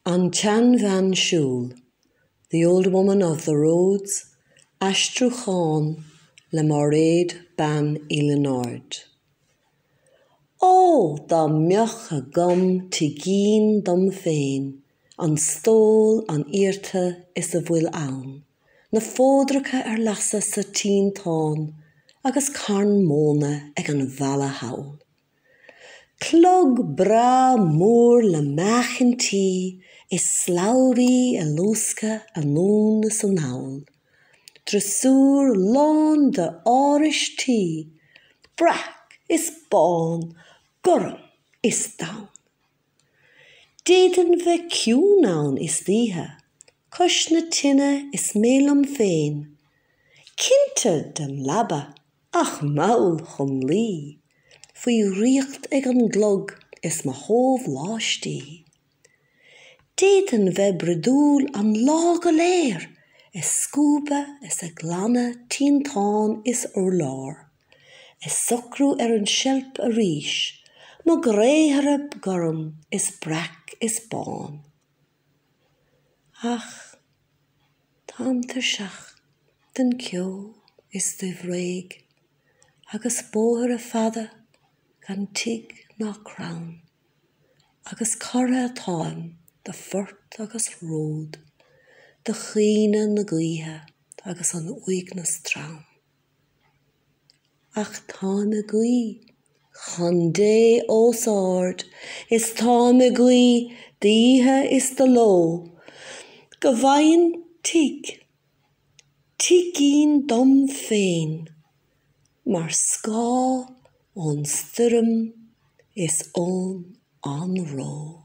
An tSeanbhean Siúil, The Old Woman of the Roads, aistriúchán le Máiréad Bean Uí Lionáird. Ó! dá mbeadh agam tigín dom féin, an stól, an iarta is a bhfuil ann, na fódracha ar lasadh sa tinteán agus carn móna ag an bhfalla thall. Clog breá mór le meáchaintí is slabhraí ag luascadh anonn is anall. Driosúr lán de áraistí, breac is bán, gorm is donn. D'fhéadfainn bheith ciúin ann istoíche, cois na tine is mé liom féin, cinnte den leaba ach mall chun luí, faoi dhraíocht ag an gclog is mo shóláistí. D'fhéadfainn bheith bruidiúil an lá go léir, ag scuabadh is ag glanadh tinteán is urlár. Ag socrú ar an seilp arís, Mo ghréithre gorm is breac is bán. Ach táim tuirseach den cheo is de bhréig Agus bóithre fada gan tigh ná crann. Agus cortha atáim de phort agus ród, De chaoineadh na gaoithe agus an uaigneas trom. Ach táim ag guí chun Dé os ard is táim ag guí d'oíche is de ló, Go bhfaighinn tigh, tigín dom féin, mar scáth ón stoirm is ón anró.